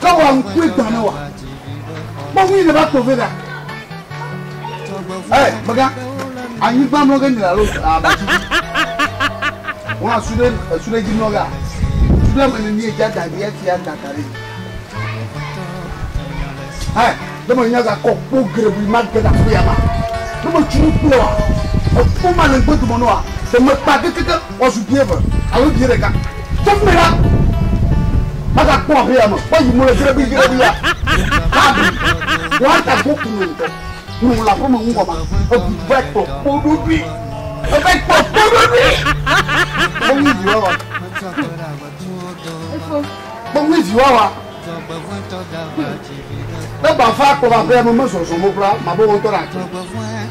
Ke wa ŋkue gbã ne wa. Kpɔ ŋui ne va kpɔ vɛ ɖa. Ɛ mega anyigba mlɔ ge nyina lo abati. Wọn asu ɖe esu ɖe dzi mlɔ ga. Su ɖe ame ne ni edza da ɖi efi ya da ka ɖe. Ɛ ne me nya ga kɔ kpo grebui ma ge da kpo ya ma. Ne me tunu kpo wa. Ekpo ma le ŋgbe dumɔ ne wa. Se me kpa kekeke. Woazu bie eve alo bie ɖeka. Tso fi mɛ ɖa! Magakpɔ abe ya me woayi mo le grebiigrebia. Gabi, woada go ku me ŋutɔ. Ŋu wòle aƒeme ŋu wɔma. Ebu va kpɔ kpoɖoɖoe. Eva kpɔ kpoɖoɖoe. Kpɔ ŋui vi wawa. Kpɔ ŋui vi wawa. Ne gbava kpɔ va aƒea me mezɔzɔ mo kura, mabe wo ŋutɔ ɖe ate.